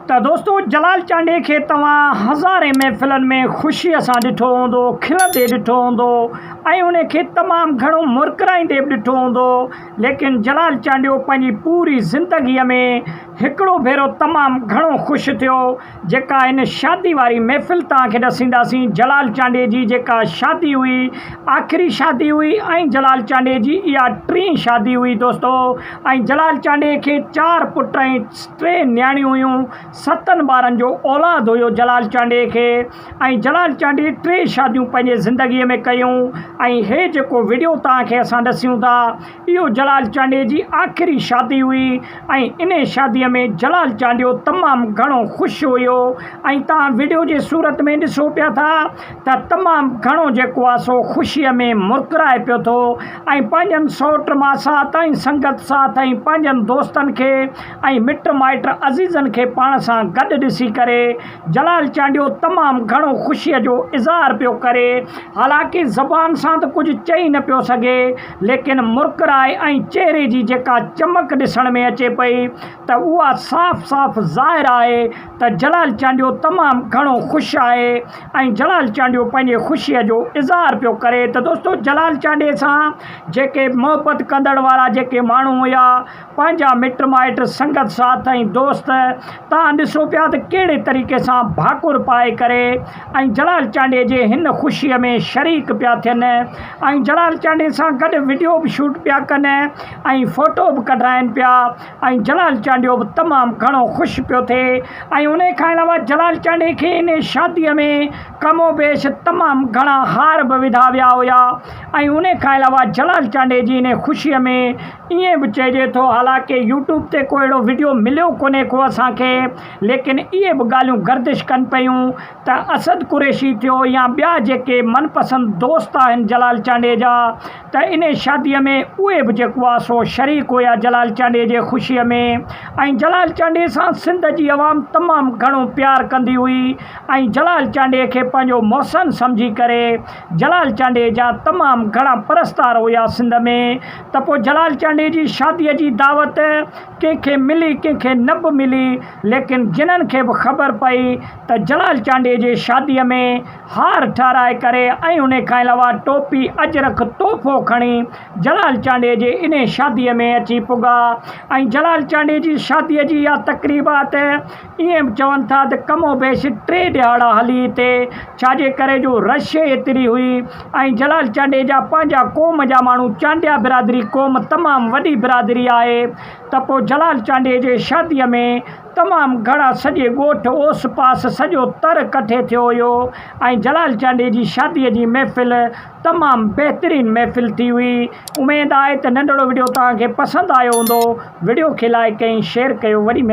ته دوستو جلال چانڊئي کي توهان هزارين محفلن ۾ خوشيء سان ڏٺو هوندو، کلندي ڏٺو هوندو ۽ ان کي تمام گهڻو مرڪرائيندي به ڏٺو هوندو ليڪن جلال چانڊيو پنهنجي پوري زندگيء ۾ هڪڙو ڀيرو تمام گهڻو خوش ٿيو جيڪا هن شادي واري محفل توهان کي ڏسينداسين جلال چانڊئي جي جيڪا شادي هئي آخري شادي هئي ۽ جلال چانڊئي جي اها ٽين شادي هئي دوستو ۽ جلال چانڊئي کي چار پٽ ۽ ٽي نياڻيون هيون. ستن ٻارن جو اولاد هيو جلال چانڊيي کي ۽ جلال چانڊيي ٽي شاديون پنهنجي زندگيء ۾ ڪيون ۽ هي جيڪو وڊيو توهان کي اسان ڏسيون ٿا اهو جلال چانڊيي جي آخري شادي هئي ۽ انهي شاديء ۾ جلال چانڊيو تمام گهڻو خوش هيو ۽ توهان وڊيو جي صورت ۾ ڏسو پيا ٿا ته تمام گهڻو جيڪو آ سو خوشيء ۾ مرڪرائي پيو ٿو ۽ پنهنجن سئوٽ ماسات ۽ سنگت ساٿ ۽ پنهنجن دوستن کي ۽ مٽ مائٽ عزيزن کي پاڻ سان گڏ ڏسي ڪري جلال چانڊيو تمام گهڻو خوشيء جو اظهار پيو ڪري حالانڪ زبان سان ته ڪجهه چئي نه پيو سگهي ليڪن مرڪرائي ۽ چهري جي جيڪا چمڪ ڏسڻ ۾ اچي پئي ته اها صاف صاف ظاهر آهي ته جلال چانڊيو تمام گهڻو خوش آهي ۽ جلال چانڊيو پنهنجي خوشي جو اظهار پيو ڪري ته دوستو جلال چانڊيي سان جيڪي محبت ڪندڙ وارا جيڪي ماڻهو هيا پنهنجا مٽ مائٽ سنگت ساٿ ۽ دوست توهان ڏسو پيا ته ڪهڙي طريقي سان ڀاڪر پائي ڪري ۽ جلال چانڊيي جي هن خوشي ۾ شريڪ پيا ٿين ۽ جلال چانڊيي سان گڏ وڊيو به شوٽ پيا ڪن ۽ فوٽو به ڪڍرائن پيا ۽ جلال چانڊيو به تمام گهڻو خوش پيو ٿئي ۽ ان کان علاوه جلال چانڊي کي ان شاديء ۾ ڪم و بيش تمام گهڻا هار به وڌا ويا هيا ۽ ان کان علاوه جلال چانڊي جي ان خوشيء ۾ ائين به چئجي ٿو حالانڪه يوٽيوب تي ڪو اهڙو وڊيو مليو ڪونهي ڪو اسان کي ليڪن اهي به ڳالهيون گردش ڪن پيون ته اسد قريشي ٿيو يا ٻيا جيڪي من پسند دوست آهن جلال چانڊيجا ته انهي شادي ۾ اهي به جيڪو آ سو شريڪ هيا جلال چانڊيي جي خوشي ۾ ۽ جلال چانڊيي سان سنڌ جي عوام تمام گهڻو پيار ڪندي هئي ۽ جلال چانڊيي کي پنهنجو محسن سمجهي ڪري جلال چانڊيي جا تمام گهڻا پرستار هيا سنڌ ۾ ته پوء جلال چانڊيي جي شادي جي دعوت ڪنهن کي ملي ڪنهن کي نه به ملي ليڪن جنھن کي به خبر پئي ته جلال چانڊيي جي شاديء ۾ ھار ٺھرائي ڪري ۽ انھي کان علاوه ٽوپي اجرڪ تحفو کڻي جلال چانڊيي جي انھي شاديء ۾ اچي پڳا ۽ جلال چانڊيي جي شاديء جي اھا تقريبات اهي چون ٿا ته ڪم و بيش ٽي ڏهاڙا هلي هتي، ڇاجي ڪري جو رش ئي ايتري هئي ۽ جلال چانڊيجا پنهنجا قوم جا ماڻهو چانڊيا برادري قوم تمام وڏي برادري آهي ته پوء جلال چانڊيجي شاديء ۾ تمام گهڻا سڄي ڳوٺ اوس پاس سڄو تر ڪٺي ٿيو هيو ۽ جلال چانڊيجي شاديء جي محفل تمام بهترين محفل ٿي هئي اميد آهي ته ننڍڙو وڊيو توهان کي پسند آيو هوندو وڊيو کي لائڪ ۽ شيئر ڪيو وڏي